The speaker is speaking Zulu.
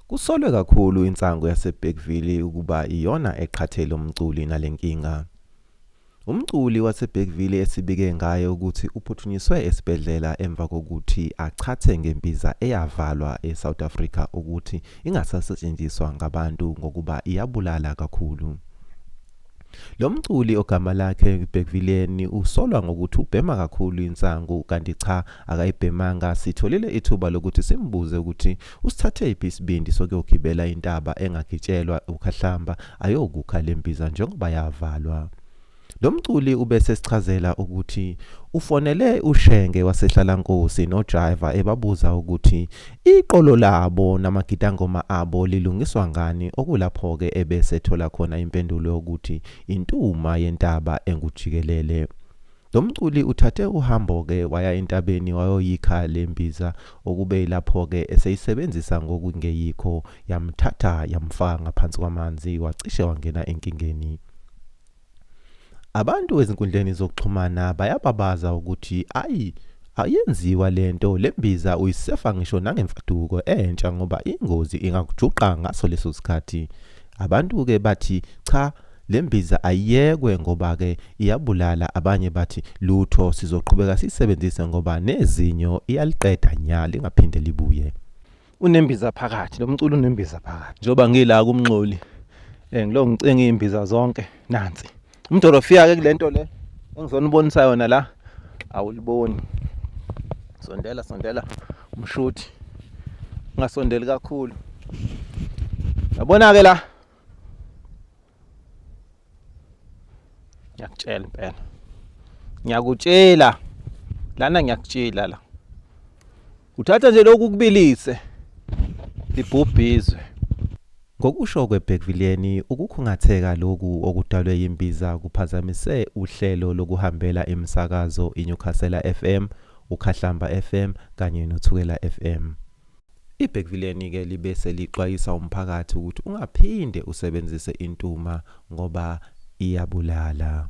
Kusolwe kakhulu insangu yaseBergville ukuba iyona eqhathele umculi nale nkinga. Umculi waseBergville esibike ngaye ukuthi uphuthunyiswe esibhedlela emva kokuthi achathe ngembiza eyavalwa eSouth Africa ukuthi ingasasetshenziswa ngabantu ngokuba iyabulala kakhulu. Lo mculi ogama lakhe Bhekvileni usolwa ngokuthi ubhema kakhulu insangu kanti cha akayibhemanga sitholile ithuba lokuthi simbuze ukuthi usithathephi isibindi sokuyogibela intaba engagitshelwa ukhahlamba ayokukha le mbiza njengoba yavalwa. Lo mculi ubese sichazela ukuthi ufonele uShenge waseHlalankosi noJaiva ebabuza ukuthi Iqolo labo namagidangoma abo lilungiswa ngani okulapho-ke ebese thola khona impendulo yokuthi intuma yentaba engujikelele. Lo mculi uthathe uhambo-ke waya entabeni wayoyikha le mbiza okube ilapho-ke eseyisebenzisa ngokungeyikho yamthatha yamfaka ngaphansi kwamanzi wacishe wangena enkingeni. Abantu ezinkundleni zokuxhumana bayababaza ukuthi ayi ayenziwa lento lembiza uyisefa ngisho nangemfaduko entsha ngoba ingozi ingakujuqa ngaso leso sikhathi. Abantu ke bathi cha lembiza ayiyekwe ngoba ke iyabulala abanye bathi lutho sizoqhubeka sisebenzise ngoba nezinyo iyaliqeda nya lingaphinde libuye. unembiza phakathi lo mculo unembiza phakathi njengoba ngila kumnxoli eh ngilo ngicinga imbiza zonke nansi umdorofiya ke kulento le engizona ubonisa yona la awuliboni sondela sondela umshuthi ungasondeli kakhulu yabona ke la ngiyakutshela impela ngiyakutshela lana ngiyakutshela la uthatha nje lokhu kubilise libhubhizwe Ngokusho kweBhekvileni, ukukhungatheka lokhu okudalwe yimbiza kuphazamise uhlelo lokuhambela imisakazo iNewcastle FM, uKhahlamba FM kanye noThukela FM. Ibhekivileni-ke libe selixwayisa umphakathi ukuthi ungaphinde usebenzise intuma ngoba iyabulala.